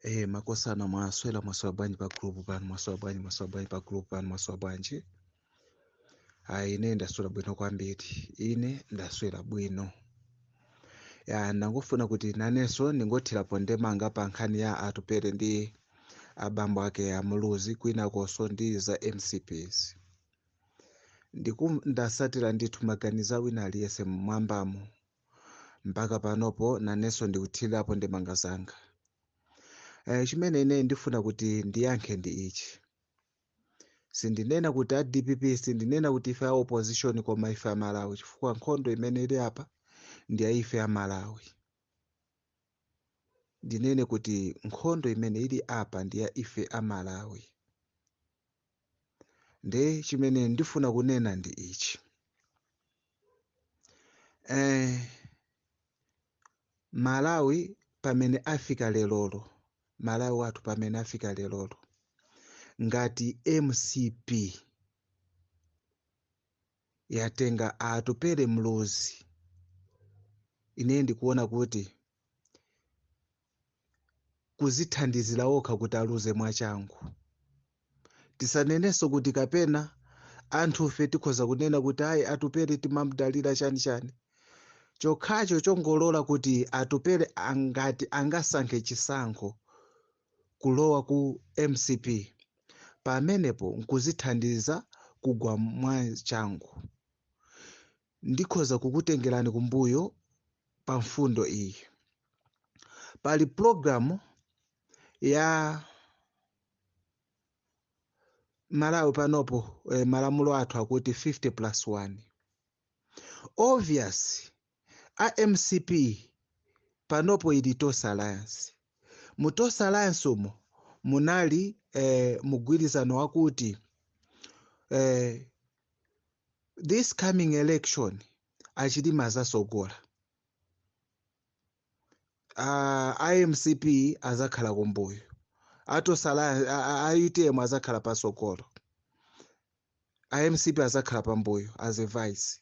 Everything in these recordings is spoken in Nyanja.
Hey, eh, makosana mwaswera mwaswera bwanji pa group pano mwaswera bwanji mwaswera bwanji pa group pano mwaswera bwanji ayi ine ndaswera bwino kwambiri ine ndaswera bwino ya ndangofuna kuti nanenso ndingothirapo ndemanga pa nkhani ya atupele ndi abambo ake a muluzi kwinakonso ndi za mcp zi ndasatira ndithu maganizo a wina aliyense mmwambamo mpaka panopo nanenso ndikuthirirapo ndemanga zanga eh, chimene ine ndifuna kuti ndiyankhe ndi ichi sindinena kuti a dpp sindinena kuti ife a opposition koma ife a malawi chifukwa nkhondo imene ili apa ndi ya ife a malawi ndinene kuti nkhondo imene ili apa ndi ya ife a malawi nde chimene ndifuna kunena ndi ichi eh, malawi pamene afika lelolo malawi wathu pamene afika lelolo ngati mcp yatenga atupele muluzi ine ndikuona kuti kuzithandizira okha kuti aluze mwachangu tisanenenso kuti kapena anthufe tikhoza kunena kuti ayi atupele timamdalira chani chani chokhacho chongolola kuti atupele angati angasankhe chisankho kulowa ku mcp pamenepo nkuzithandiza kugwa mwachangu ndikhoza kukutengerani kumbuyo pa mfundo iyi pali pulogalamu ya malawi panopo eh, malamulo athu akuti 50 plus 1 obvious a mcp panopo ili tonse alliance mu tonse alliance umo munali eh, mgwirizano wakuti eh, this coming election achilima azasogola uh, a mcp azakhala kumbuyo a tonse alla a, a utm azakhala pasogolo a mcp azakhala pambuyo as a vice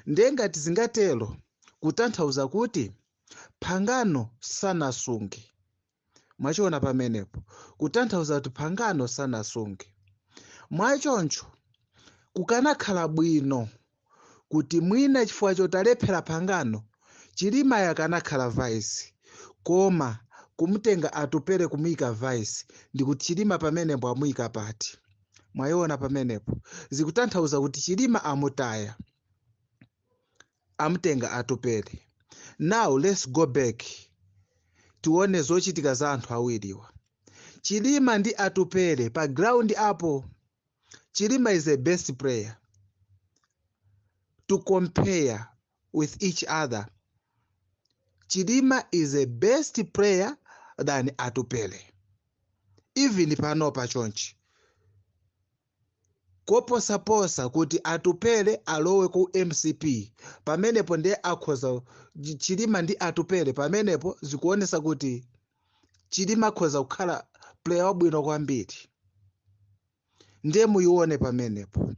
ndiye ngati zingatero kutanthauza kuti pangano sanasunge mwachiona pamenepo kutanthauza kuti pangano sanasunge mwachoncho kukanakhala bwino kuti mwina chifukwa choti alephera pangano chilima akanakhala vice koma kumtenga atupele kumuyika vice ndikuti chilima pamenepo amuyika pati mwayiona pamenepo zikutanthauza kuti chilima amutaya amtenga Atupele now let's go back tione zochitika za anthu awiriwa Chilima ndi Atupele pa ground apo Chilima is a best player to compare with each other Chilima is a best player than Atupele even panopa chonchi koposaposa kuti Atupele alowe ku mcp pamenepo nde akhoza Chilima ndi Atupele pamenepo zikuonesa kuti Chilima akhoza kukhala player wabwino kwambiri nde muyione pamenepo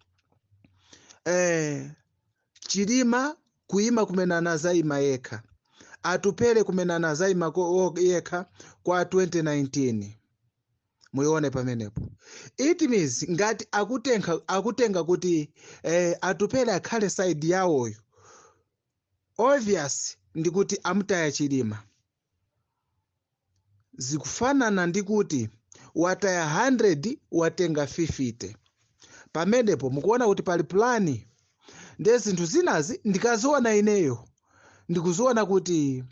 eh, Chilima kuima kumene anazayima yekha Atupele kumene anazayima ko- wo- yekha kwa 2019 muyione pamenepo it means ngati akutenga akutenga kuti eh, atupele akhale side yawoyo obvious ndi kuti amutaya chilima zikufanana ndi kuti wataya 100 watenga 50 pamenepo mukuona kuti pali plani ndiye zinthu zinazi ndikaziona ineyo ndikuziona kuti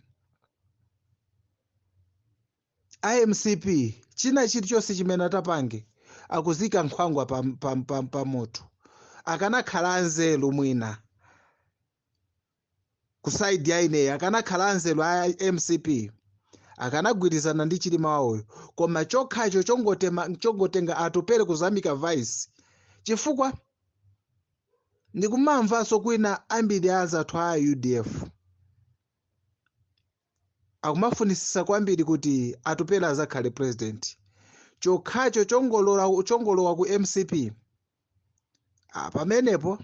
a mcp china chili chonse chimene atapange akuzika nkhwangwa pa, pa, pa, pa moto akanakhala anzeru mwina kusaidi ya ineyo akanakhala anzeru a mcp akanagwirizana ndi chilima wawoyo koma chokhacho chongotema- chongotenga atupere kuzamika vice chifukwa ndikumamvanso kwina ambiri a azathu a udf Akumafunisisa kwambiri kuti Atupele azakhale president chokhacho chongolora chongolowa ku mcp ah, pamenepo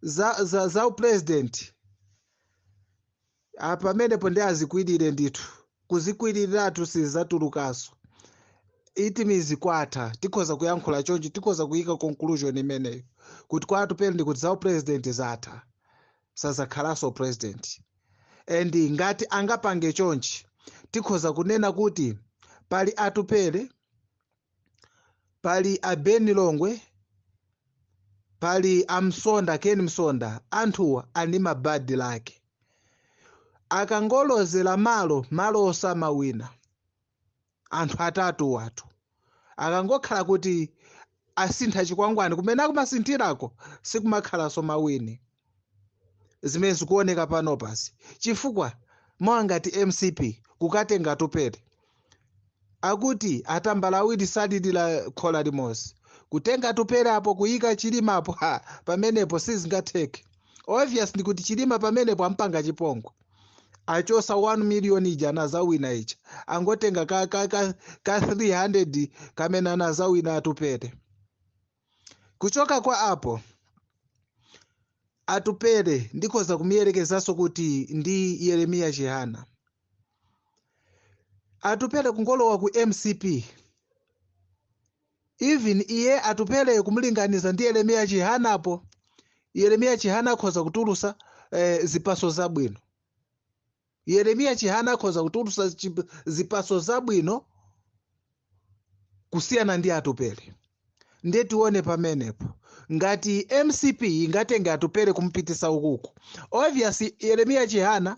za, za, za upresident ah, pamenepo ndi azikwirire ndithu kuzikwiriratu sizatulukaso it means kwatha tikhoza kuyankhula chonchi tikhoza kuyika conclusion imeneyo kuti kwa Atupele ndikuti za upresident zatha sazakhalaso president and ngati angapange chonchi tikhoza kunena kuti pali atupele pali a ben longwe pali amsonda ken msonda anthuwa ali ma bad luck akangolozera malo malo osamawina anthu atatuwatu akangokhala kuti asintha chikwangwani kumene akumasinthirako sikumakhalanso mawini zimene zikuoneka pano pansi chifukwa mawa ngati mcp kukatenga atupele akuti atambala awiri salirira khola limodzi kutenga atupele apo kuyika chilima apo ha pamenepo sizingatheke obvious ndikuti chilima pamenepo ampanga chipongwe achosa 1 million ija anazawina ija angotenga ka 300 kamene anazawina atupele kuchoka kwa apo atupele ndikhoza kumuyerekezanso kuti ndi yeremiya chihana atupele kungolowa ku mcp Even iye Atupele kumulinganiza ndi Yeremia Chihana apo Yeremia Chihana akhoza kutulusa eh, zipaso zabwino Yeremia Chihana akhoza kutulusa chip- zipaso zabwino kusiyana ndi Atupele ndiye tione pamenepo ngati mcp ingatenge atupele kumupitisa ukuku obviously yeremiya chihana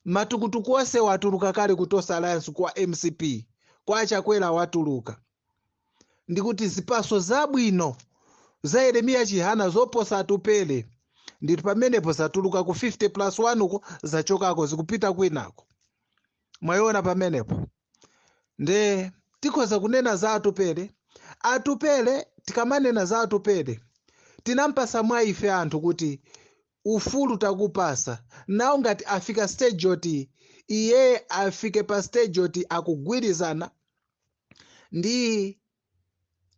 Matukutuku ose watuluka kale ku Tonse Alliance kwa mcp kwa achakwera watuluka ndikuti zipaso zabwino za Yeremiya Chihana zoposa Atupele nditu pamenepo zatuluka ku 50 plus 1 uko zachokako zikupita kwinako mwayiona pamenepo nde tikhoza kunena za Atupele Atupele tikamanena za Atupele tinampasa mwa ife anthu kuti ufulu takupasa nawo ngati afika stage yoti iye afike pa stage yoti akugwirizana ndi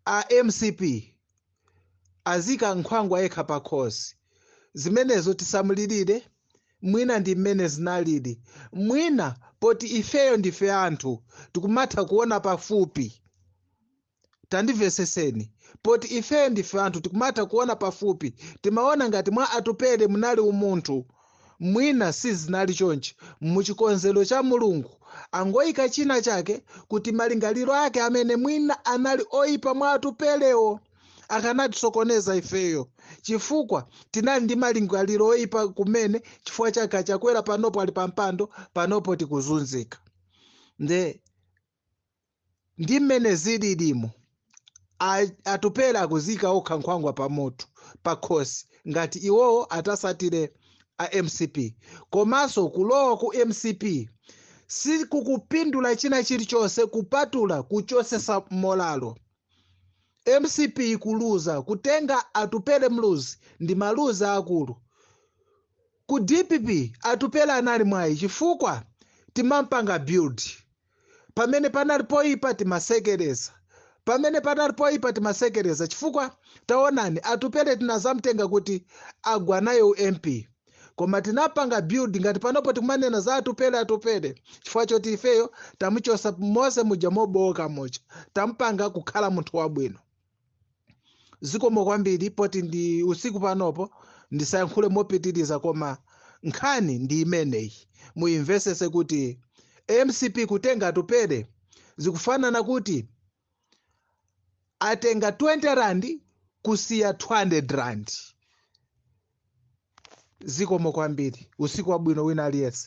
a mcp azika nkhwangwa yekha pa khosi zimenezo tisamulirire mwina ndi mmene zinaliri mwina poti ifeyo ndife anthu tikumatha kuona pafupi tandiveseseni poti ifeyo ndife anthu tikumatha kuona pafupi timaona ngati mwa atupele munali umunthu mwina sizinali chonchi muchikonzero cha mulungu angoyika china chake kuti malingaliro ake amene mwina anali oyipa mwa atupelewo akanatisokoneza ifeyo chifukwa tinali ndi malingaliro oyipa kumene chifukwa chake achakwera panopo ali pampando panopo tikuzunzika nde ndi mmene zililimo a- atupele akuzika okha nkhwangwa pamoto pakhosi ngati iwowo atasatire a mcp komanso kulowa ku mcp sikukupindula china chilichonse kupatula kuchosesa molalo mcp kuluza kutenga atupele muluzi ndi maluzi akulu ku dpp atupele anali mwayi chifukwa timampanga build pamene panali poipa timasekereza pamene panali poipa timasekereza chifukwa taonani atupele tinazamtenga kuti agwa nayo u mp koma tinampanga build ngati panopo tikumanena za atupele atupele chifukwa choti ifeyo tamuchosa mose muja mobowoka muja tampanga kukhala munthu wabwino zikomo kwambiri poti ndi usiku panopo ndisayankhule mopitiriza koma nkhani ndi imeneyi muyimvesese kuti mcp kutenga atupele zikufanana kuti atenga 20 rand kusiya 200 rand zikomo kwambiri usiku wabwino wina aliyense